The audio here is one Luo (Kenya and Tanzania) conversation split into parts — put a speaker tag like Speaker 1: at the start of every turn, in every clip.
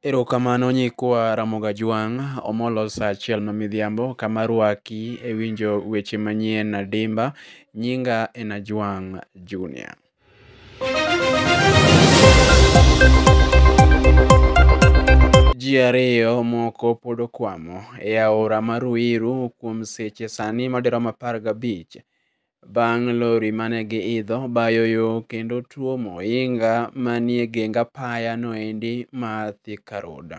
Speaker 1: Erokamano nyikwa Ramoga Jwang', Omolo sa achiel ma midhiambo kama rwaki e winjo weche manyien adimba. Nyinga en Ajwang' Junior. ji ariyo moko pod okwamo e aora ma Ruiru kuom seche sani madirom apar gabich bang' lori mane giidho bayo yo kendo tuomo ohinga manie geng apaya noendi ma Thika Road. Juda.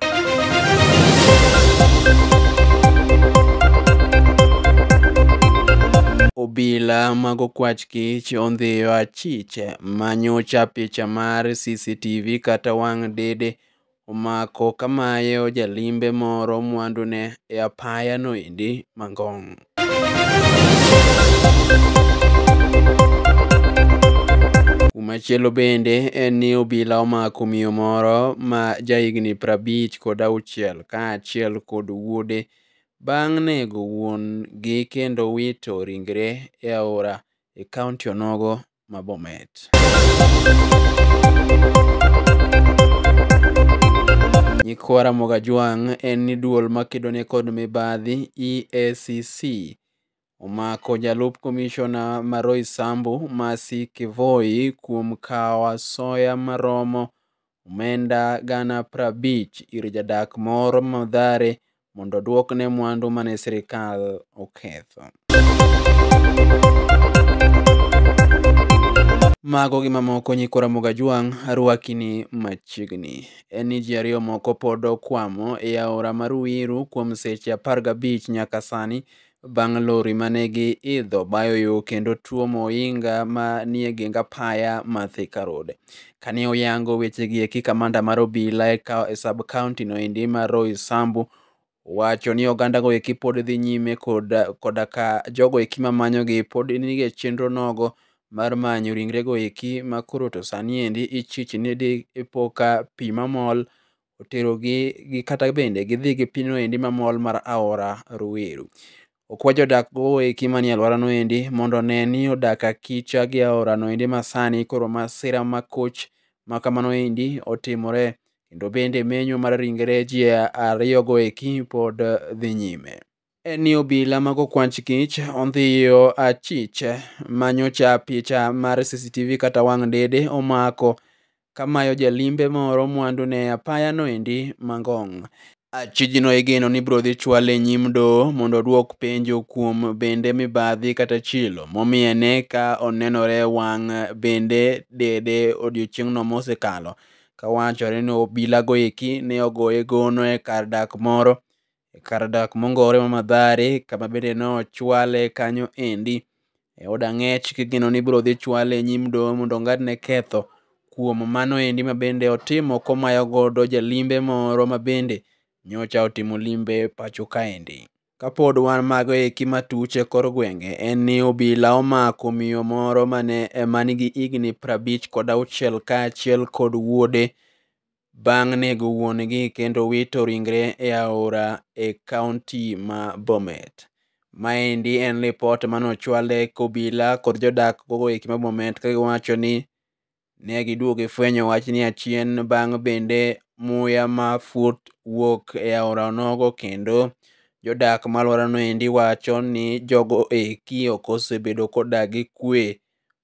Speaker 1: Obila mag okwach kich ondhiyo achich manyocha picha mar CCTV kata wang' dede omako kamayo jalimbe moro mwandune e apaya noendi Mangong'. Machielo bende en ni obila omako miyo moro ma jahigni prabich kod auchiel kaachiel kod wuode bang' nego wuon-gi kendo wito ringre e aora e kaonti onogo ma Bomet. Nyikwa Ramogi Ajwang' en ni duol makedo ne kod mibadhi EACC omako jalup komishona ma Roysambu Mercy Kivoi kuom kawo asoya maromo omenda gana prabich ir jadak moro Mathare mondo oduokne mwandu mane sirkal oketho. Mago gi mamoko nyikwa Ramogi Ajwang' arwakini machiegni. En ni ji ariyo moko pod okwamo e aora ma Ruiru kuom seche apar gabich nyaka sani bang' lori ma ne giidho bayo yo kendo tuomo ohinga ma nie geng apaya ma Thika Road. Kane oyango wechegi eki kamanda mar obila e sub county no endi ma Roy Sambu wacho ni oganda go eki pod dhi nyime koda, koda ka jogo eki ma manyogi pod nige chenro nogo mar manyo ringrego eki ma koro to sani endi ichich ni di ipoka pi mamol oterogi gi kata bende gidhi gi pinyno endi mamol mar aora Ruiru. Okwa jodak go eki manie alworano endi mondo one ni odak akicha gi aorano endi masani koro masira makoch ma kamano endi otimore kendo bende menyo mar ringre ji ariyogo eki pod dhi nyime. en ni obila mag okwanch kich ondhiyo achich manyocha picha mar CCTV kata wang' dede omako kamayo jalimbe moro mwandu ne apaya noendi Mangong. Achijno igeno ni biro dhi chwale e nyim doho mondo odwok penjo kuom bende mibadhi kata chilo momiyene ka onenore wang' bende dede odiochieng'no mosekalo kawachore ni obilago eki ne ogoye gono e kar dak moro e kar dak mongowore ma Madhare kama bende nochwale kanyo endi e od ang'ech kigeno ni ibiro dhi chwale e nyim doho mondo ong'adne ketho kuom mano endi ma bende otimo komayo godo jalimbe moro ma bende nyocha otimo limbe pacho kaendi. Kapod wan mago eki matuch e kor gwenge en ni obila omako miyo moro mane manigi higni prabich kod auchiel kaachiel kod wuode bang' nego wuon-gi kendo wito ringre e aora e kaunti ma Bomet. Maendi en lipot mane ochwale kobila kod jodak gogo eki ma Bomet ka giwacho ni ne giduogo gifwenyo wachni achien bang' bende muya ma fut wuok e aora onogo kendo jodak ma alworano endi wacho ni jogo eki ok osebedo kodak gi kwe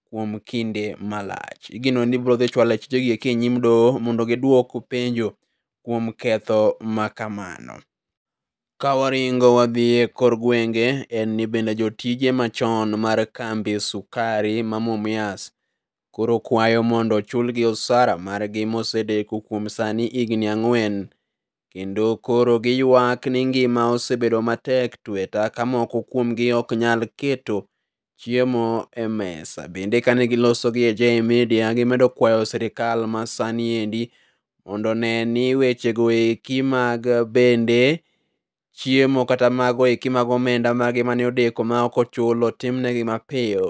Speaker 1: kuom kinde malach. Igeno ni biro dhi chwalo achijegi eki e nyim doho mondo gidwok penjo kuom ketho ma kamano. Ka waringo wadhi e kor gwenge, en ni bende jotije machon mar kambi sukari ma Mumias koro kwayo mondo ochulgi osara margi mosedeko kuom sani higni ang'wen kendo koro giywak ni ngima osebedo matek tweta ka moko kuomgi ok nyal keto chiemo e mesa. Bende kane giloso gi AJ Media gimedo kwayo sirikal ma sani endi mondo ne ni wechego eki mag bende chiemo kata mago eki mag omenda magi mane odeko ma ok ochulo timnegi mapiyo.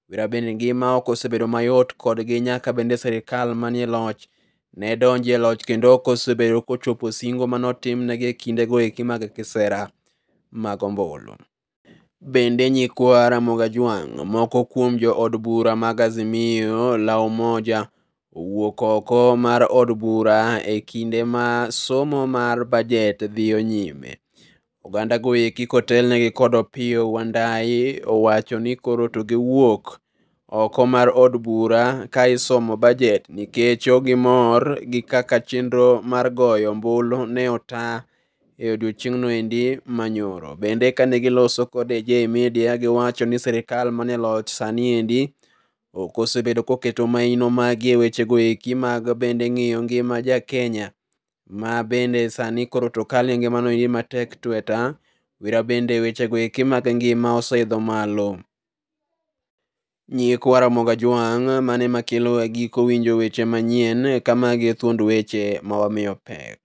Speaker 1: Wira bende ngima ok osebedo mayot kodgi nyaka bende sirkal manie loch ne donje loch kendo ok osebedo kochopo singo mane otimnegi e kindego eki mag kisera mag ombulu. Bende nyikwa Ramogi Ajwang', moko kuom jo od bura mag Azimio la Umoja owuok oko mar od bura e kinde ma somo mar bajet dhiyo nyime. Oganda go eki kotelnegi kod Opiyo Wandayi owacho ni koro to giwuok oko mar od bura ka isomo bajet nikech ogimor gi kaka chenro mar goyo ombulu ne ota e odiechieng'no endi manyoro. Bende kane giloso kod AJ Media giwacho ni sirikal mane loch sani endi ok osebedo koketo maino magi e wechego eki mag bende ng'iyo ngima ja Kenya ma bende sani koro to kali e ngimano iyi matek tweta wira bende wechego eki mag ngima oseidho malo nyikwa ramoga jwang' mane makelo e giko winjo weche manyien kamagi e thuond weche ma wamiyo pek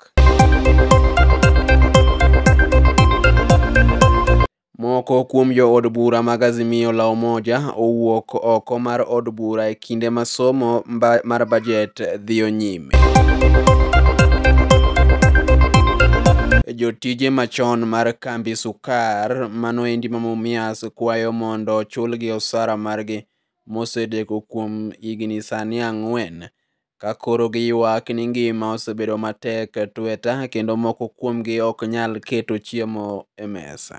Speaker 1: Moko kuom jo od bura mag Azimio la Umoja owuok oko mar od bura e kinde ma somo mar bajet dhiyo nyime. Jotije machon mar kambi Sukar mano endi ma Mumias kwayo mondo ochulgi osara margi mosedeko kuom higni sani ang'wen Ka koro giywak ni ngima osebedo matek e tweta kendo moko kuomgi ok nyal keto chiemo e mesa.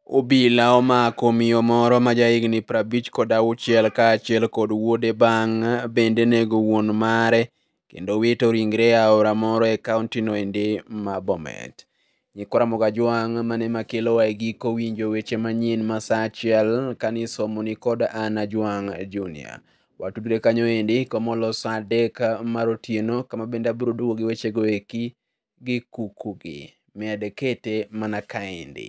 Speaker 1: Obila omako miyo moro ma jahigni prabich kod auchiel kaachiel kod wuode bang' bende nego wuon mare kendo wito ringre e aora moro e kauntino endi ma Bomet. Nyikwa Ramogi Ajwang' mane makelowa e giko winjo weche manyien ma sa achiel kane isomoni kod an Ajwang' Junior. Watudre kanyo endi komolo sa adek mar otieno kama bende abiro duogo gi wechego eki gi kukugi. Med kete mana kaendi.